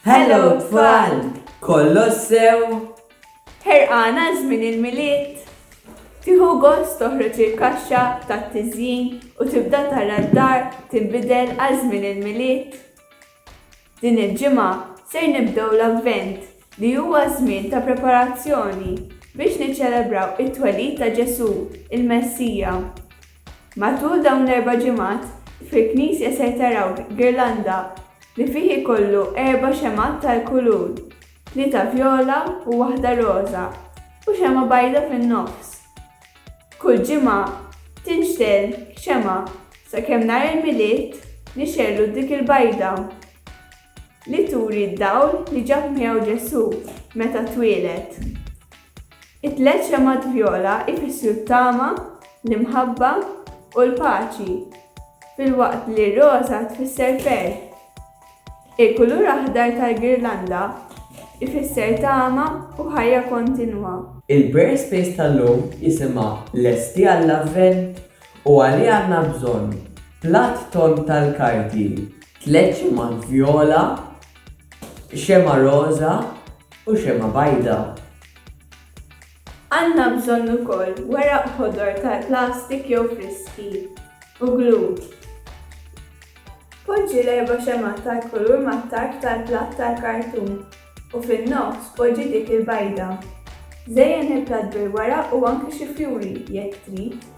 Hello tfal! Kollox sew? Ħerqan għal żmien il-Milied? Tieħu gost toħroġ il-kaxxa tat-tiżjin u tibda tara d-dar tinbidel għal żmien il-Milied? Din il-ġimgħa ser nibdew l-Avvent li huwa żmien ta' preparazzjoni biex niċċelebraw it-twelid ta' Ġesù, il-Messija. Matul dawn l-erba' ġimgħat, fil-knisja ser taraw girlanda li fih ikollu erba' xemgħat tal-kulur, tlieta vjola u waħda roża, u xemgħa bajda fin-nofs. Kull ġimgħa tinxtegħel xemgħa sakemm nhar il-Milied nixegħlu dik il-bajda li turi d-dawl li ġab miegħu Ġesù meta twieled. It-tliet xemgħat vjola jfissru t-tama, l-imħabba, u l-paċi, filwaqt li r-roża tfisser ferħ. Il-kulur aħdar tal-girlanda jfisser tama u ħajja kontinwa. Il-Prayer Space tal-lum jisimha Lesti għall-Avvent? u għalih għandna bżonn, Platt tond tal-karti, tliet xemgħat vjola, Xemgħa roża u xemgħa bajda. Għandna bżonn ukoll weraq ħodor tal-plastik jew friski, u glue. Poġġi l-erba' xemgħat tal-kulur mat-tarf tal-platt tal-kartun u fin-nofs poġġi dik il-bajda. Żejjen il-platt bil-weraq u anki xi fjuri, jekk trid.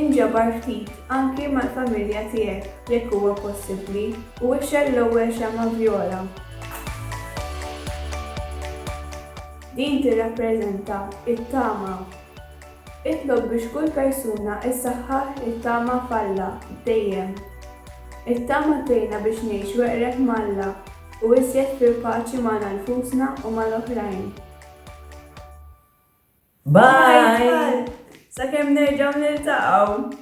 Inġabar ftit anki mal-familja tiegħek jekk huwa possibbli u ixgħel l-ewwel xemgħa vjola. Din tirrappreżenta t-tama. Itlob biex kull persuna ssaħħaħ it-tama f'Alla dejjem. It-tama tgħinna biex ngħixu eqreb m'Alla u iżjed fil-paċi magħna nfusna u mal-oħrajn. Bye! Sakemm nerġgħu niltaqgħu!